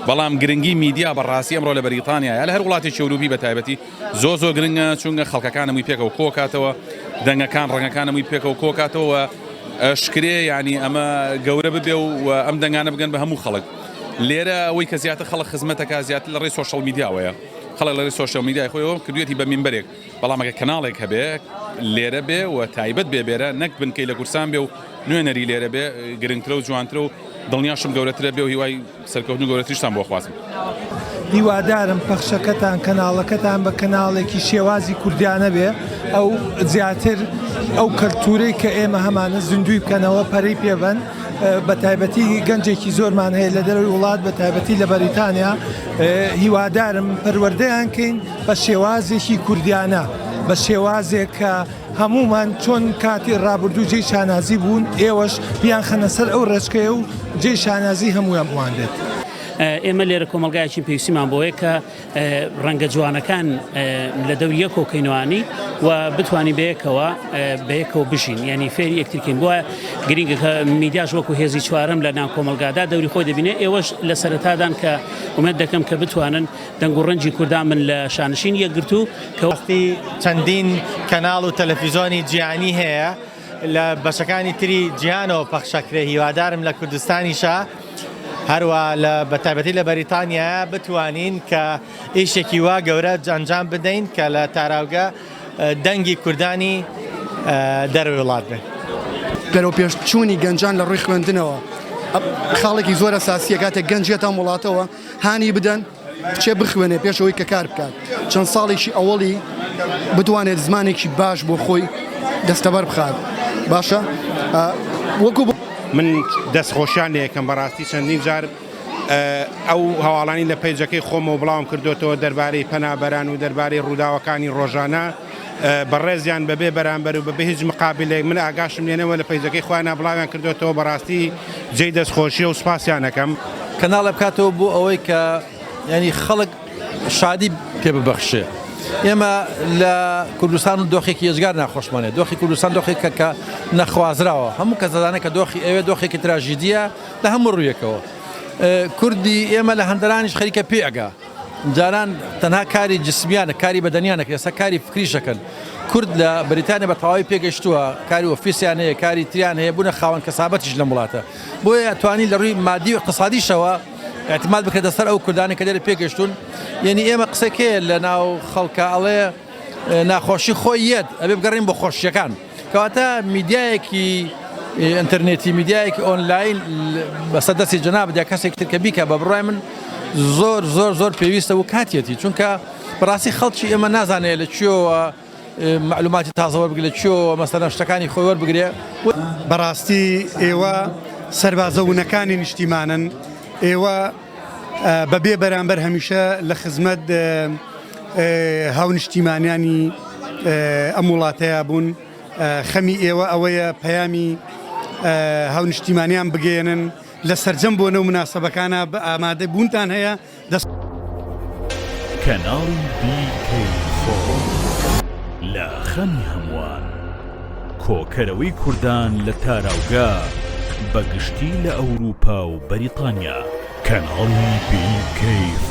بەڵام گرنگی میدیا بە ڕاستی ئەمڕۆ لە بەریتانیا یا لە هەر وڵاتی چوروبی بە تایبەتی زۆ زۆ گرنگە چونگە خەڵکەکانەمووی پێکەوە کۆکاتەوە دەنگەکان ڕەنگەکانەمووی پێکەوە کۆکاتەوە شکرێ ینی ئەمە گەورە ببێ و ئەم دەنگانە بگەن بە هەموو خەڵک لێرە ئەوەی کە زیاتر خەڵک خزمەتەکە زیاتر لە ڕێی سۆشەڵ میدیاوەیە. خەڵک لەڕێی سۆشیاڵ میدیای خۆیەوە کردوویەتی بە مینبەرێک، بەڵام ئەگەر کەناڵێک هەبێ لێرە بێ و تایبەت بێ بێرە نەک بنکەی لە کورسان بێ و نوێنەری لێرە بێ گرنگترە و جوانترە و دڵنیاشم گەورەترە بێ و هیوای سەرکەوتن و گەورەتریشتان بۆ خوازم. هیوادارم پەخشەکەتان کەناڵەکەتان بە کەناڵێکی شێوازی کوردیانە بێ ئەو زیاتر ئەو کەلتورەی کە ئێمە هەمانە زیندووی بکەنەوە پەرەی پێبەن. بە تایبەتی گەنجێکی زۆرمان هەیە لە دەروی وڵات بە تایبەتی لە بەریتانیا هیوادارم پەروەردەیان کەین بە شێوازێکی کوردیانە بە شێوازێک کە هەمومان چۆن کاتی ڕابردوو جێی شانازی بوون ئێوەش بیان خەنە سەر ئەو ڕێچکەیە و جێ شانازی هەمویان بوان بێت. ئێمە لێرە کۆمەلگایەکی پێویستیمان بۆیە کە ڕەنگە جوانەکان لە دەور یەک کۆکەینوانی و بتانی بەیەکەوە بەیەکەوە بژین ینی فێری یەکترکین بووە گرنگەکە میدیاش وەکو هێزی چوارم لە ناو کۆمەلگادا دەوری خۆی دەبینێ ئێوەش لە سەرتادان کە ومێت دەکەم کە بتوانن دەنگ و ڕەنجی کوردان من لە شانشین یەکگرتو کەوەختی چەندین کەناڵ و تەلەفیزۆنی جیانی هەیە. لە بەشەکانی تری جیهانەوە پەخشەکرێ هیوادارم لە کوردستانیشە هەروە لە بەتابەتی لە بەریتانیا بتوانین کە ئیشێکی وا گەورە جەنجام بدەین کە لە تاراوگە دەنگی کوردانی دەروی وڵات بێت گەرەو پێش چوونی گەنجان لە ڕووی خوێندنەوە خاڵێکی زۆر ئەساسیە کاتێک گەنجێتان وڵاتەوە هانی بدەن کچێ بخوێنێ پێش ئەوەی کە کار بکات چەند ساڵێکی ئەوەڵی بتوانێت زمانێکی باش بۆ خۆی دەستەبەر بخات باشە وەکو من دەستخۆشیان لەکەم بەڕاستی چەندین جار ئەو هەواڵانی لە پەیجەکەی خۆمەوە بڵاوم کردوێتەوە دەربارەی پەنابەران و دەربارەی ڕووداوەکانی ڕۆژانە بەڕێزیان بەبێ بەرامبەر و بەبێ هیچ مقابلێک من ئاگاشم لێنەبوە لە پەیجەکەی خۆیانا بڵاویان کردۆتەوە بەڕاستی جێی دەستخۆشیە و سوپاسیان ئەکەم. کەناڵێ بکاتەوە بۆ ئەوەی کە یانی خەڵک شادی پێ ببەخشێ ئێمە لە کوردستان و دۆخێکی ێزگار ناخۆشمانێ دۆخی کوردستان دۆخێکە کە نەخوازراوە هەموو کە زدانە کە دۆخی ئەوێ دۆخێکی تراژیدیە لە هەموو ڕوویەکەوە کوردی ئێمە لە هەندرانیش خەریکە پێگا جاران تەنها کاری جسمیانە کاری بەدەنیانە کرد ئێستا کاری فکریش دەکەن کورد لە بەریتانیا بە تەواوی پێگەشتووە کاری ئۆفیسیان هەیە کاری تریان هەیە بوونە خاوەن کەسابەتیش لەم وڵاتە بۆیە توانی لە ڕووی مادی و اقتصادیشەوە اعتماد بکرێتە سەر ئەو کوردانی کە لێرە پێگەشتون یعنی ئێمە قسەکێ لە ناو خەڵکە ئەڵێ ناخۆشی خۆی یەت ئەبێ بگەڕین بۆ خۆشیەکان کەواتە میدیایەکی ئینتەرنێتی میدیایەکی ئۆنلاین بەسە دەستی جناب دە کەسێک تر کە بیکە بە بڕای من زۆر زۆر زۆر پێویستە و کاتیەتی چونکە بەڕاستی خەڵکی ئێمە نازانێت لە کوێوە معلوماتی تازەوە بگە لە کوێوە مەسەرە شتەکانی خۆی وەربگرێ بەڕاستی ئێوە سەربازە ونەکانی نیشتیمانن ئێوە بەبێ بەرامبەر هەمیشە لە خزمەت هاونشتیمانیانی ئەم وڵاتەیە بوون خەمی ئێوە ئەوەیە پەیامی هاونشتیمانیان بگەێنن لە سرجەم بۆ نەو مناسبەکانە بە ئامادە بوونتان هەیە دەست کەناڵی بیکەی خۆ لە خەمی هەمووان. کۆکەرەوەی کوردان لە تاراوگە بە گشتی لە ئەوروپا و بەریتانیا. کەناڵی BK4.